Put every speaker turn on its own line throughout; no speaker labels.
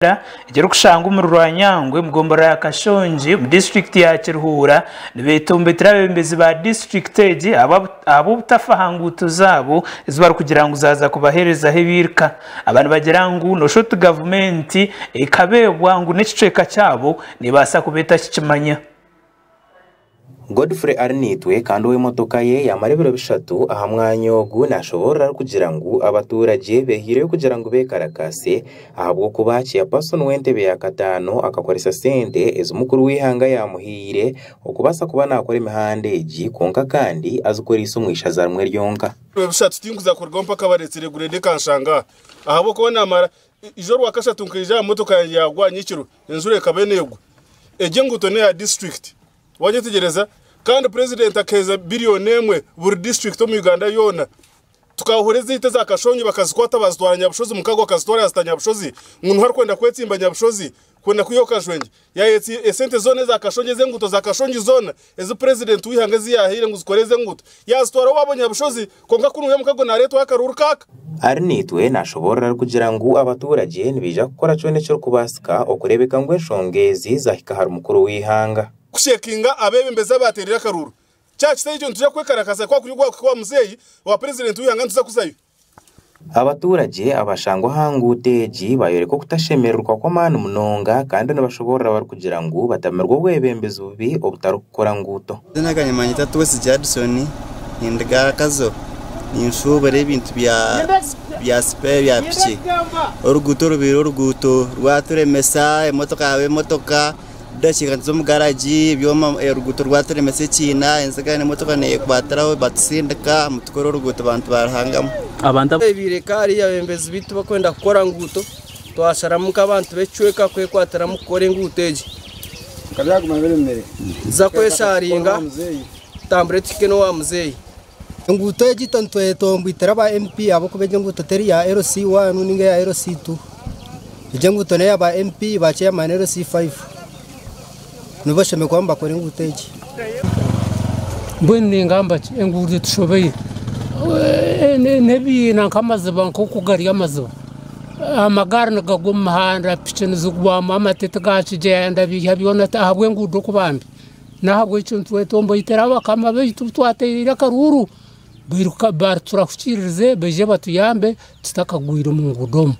Rwanda ekirikushangwa omuri Rwanyangwe omu gombolola ya Kashongi omu disiturikiti ya Kiruhura nibetombetera abebembezi ba disiturikiti egi ahabw'obutafa aha nguuto zaabo ezi barikugira ngu zaaza kubaherezaho ebiirika aba nibagira ngu nosha oti gavumenti ekabeebwa ngu n'ekicweka kyabo nebaasa kuba etakikimanya. Godfrey ari naitwe kandi owe emotoka ye yamara ebiro bishatu aha mwanya ogu nashoboorora arikugira ngu abatuuragye beehireyo kugira ngu bekarakaase ahabw'okuba chairperson w'entebe ya kataano akakoresa sente ezi mukuru w'eihanga yamuhaire okubaasa kuba nakora emihanda egi kwonka kandi azikoreise omu ishaza rimwe ryonka. Eijo Rwakashatu nkaija aha motoka yangye yaagwa nyekiro, enjura ekaba neegwa. Egi enguuto n'eya disiturikiti, waayetegyereza, kandi Purezidenti akaheereza biriyoni emwe buri disiturikiti omu Uganda yoona. Tukaahura ezaitu eza Kashongi bakazikwata baazitwara Nyabushozi, Mukago akazitwara yaazita Nyabushozi, ngu niho arikwenda kwetsimba Nyabushozi, Kwenda kwihaho Kashwengye, yaayetsya esente zoona eza Kashongye ez'enguuto za Kashongi zoona ezi Purezidenti w'eihanga ezi yaahaire ngu zikore ez'enguuto, yaazitwara owaabu Nyabushozi kwonka kunu we mukago naareetwaho akaruuru kaaka. Arinaitwe naashoboorora arikugira ngu abaturagye nibaija kukora kyona ekirikubaasika okureebeka ngu enshonga ezi zaahika ahari mukuru w'eihanga. Kusheekinga abeebembezi abaateereire akaruuru. Kyakitaba ekyo nituja kwekarakasa kwakuri ogwaakuhika owa muzeeyi owa Purezidenti w'eihanga nituza kuzayo. Abaturagye abashangwa aha nguuto egi bayoreka okutashemererwa kw'amaani munonga kandi nibashoboorora barikugira ngu batamirwe obwebembezi bubi obutarikukora nguuto. Amazina gangye niimanyetwa Twesize Adison, nindiga aha Kazo, ninshuubura ebintu bya sipeya bya piki, oruguuto rubaire oruguuto rwaturemesa, emotoka yaaba emotoka. Tudakiika tuza omu garagi ebyoma oruguuto rwaturemesa ekiina enziga n'emotoka neyekwatiraho batutsindika mbu tukore oruguuto bantu ba Ruhangamu. Abantu abu- Ebiire ka hariyo abebembezi baitu bakwenda kukora nguuto, twasharamu nk'abantu b'ekicweka kwekwatiramu kukora enguuto egi kuza kwesharinga tutambure tuhike n'owa muzeeyi. Enguuto egi itwe nitweta ngu itwe ba MP ahabw'okuba egi enguuto teri ya LC I ninga eya LC ii. Egi enguuto n'eya ba MP ba chairman LC iv. Nibo bashemereire kuba nibakora enguuto egi. Mbwenu ningamba ki? Enguuto etushobeire. N'ebiina nk'amaziba nk'oku gari amaziba. Amagaari nigagwa omu muhanda, piki nizigwamu, amatete ga kigyeenda, biiha byona ti ahabw'enguuto kuba mbi. Nahabwekyo nitwetomboitera abakama baitu bu twateereire akaruuru, baritura kukiiririze baije batuyambe tutakagwire omu nguudo omu.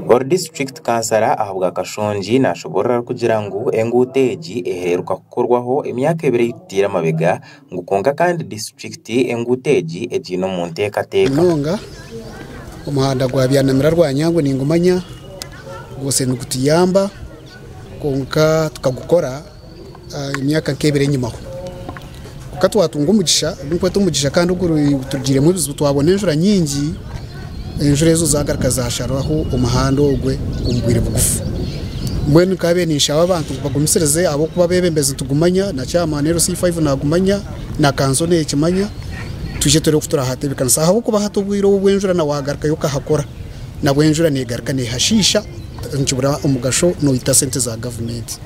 Ori disiturikiti kansara ahabwa Kashongi nashoboorora arikugira ngu enguuto egi eheruka kukorwaho emyaka ebiri ei tutaire mabega ngu kwonka kandi disiturikiti enguuto egi egiine omu nteekateeka. Munonga omuhanda gwa Byanamira Rwanyangu ningumanya gubaase nigutuyamba kwonka tukagukora. emyaka nk'ebiri enyima ho kwonka twatunga omugisha ogu ndikweta omugisha kandi oguturugiiremu ebizibu twabona enjura nyingi enjura ezo zagaruka zasharwaho omuhanda ogwe omu bwire bugufu mbwenu nkabiire ninshaba abantu ngu bagumisirize ahabw'okuba abeebembezi nitugumanya na chairman LC five nagumanya na kanso nekimanya twije tureebe oku turahatebeekanisa ahabw'okuba hati obwire obu obw'enjura na wagarukayo okahakora nabwo enjura negaruka nehashiisha nikibura omugasho noyita sente za gavumenti.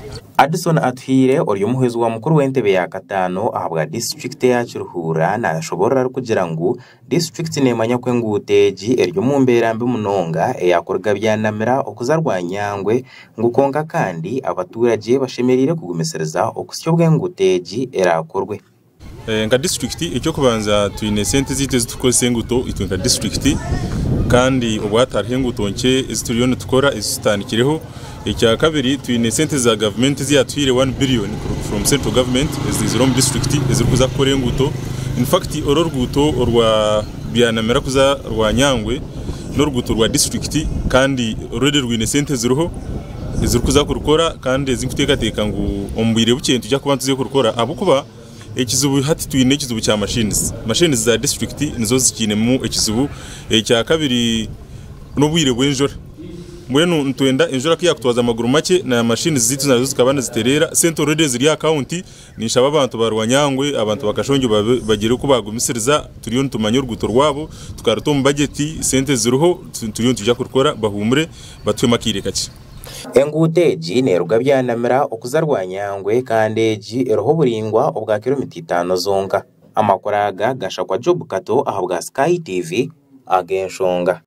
Addison Atuhaire ori omuhwezi wa mukuru w'entebe ya kataano ahabwa disiturikiti eya Kiruhura nashoborora arikugira ngu disiturikiti nemanya ku enguuto egi eri omu mbeera mbi munonga eya kuruga Byanamira okuza Rwanyangwe ngu kwonka kandi abaturage bashemereire kugumisiriza okusya obu enguuto egi erakorwe. Nka disiturikiti eky'okubanza twine sente zaitu ezi turikukoresa enguuto itwe nka disiturikiti kandi obwahati hariho enguuto nkye ezi turiyo nitukora ezi tutandikireho, ekyakabiri twine sente za gavumenti ezi yaatuhaire wani biriyoni kuruga from central government eziizire omu disiturikiti ezirikuza kukora enguuto in fact oru oruguuto orwa byanamira kuza Rwanyangwe n'oruguuto rwa disiturikiti kandi already rwine sente ziriho. ezirikuza kurukora kandi ezi nkuteekateeka ngu omu bwire bukye nituza kuba nituza kurukora ahabw'okuba ekizibu hati twine ekizibu kya mashini. Mashini za disiturikiti nizo zikiinemu ekizibu. Ekyakabiri n'obwire bw'enjura. Mbwenu nitwenda enjura ku yaakutwaza amaguru makye na mashini zaitu nazo zikaba nizitereera, sente oruredi eziri aha kawunti Ninshaba abantu ba Rwanyangwe, abantu ba Kashongye bagire oku baagumisiriza, turiyo nitumanya oruguuto rwabo, tukaruta omu bajeti, sente ziriho, turiyo nitwija kurukora, bahuumure batuhemu akaire kakye. Enguuto egi neeruga Byanamira okuza Rwanyangwe kandi egi eriho oburaingwa obwa kiromita itaano zonka. Amakuru aga gashakwa Job Kato ahabwa Sky TV, Ag'enshonga.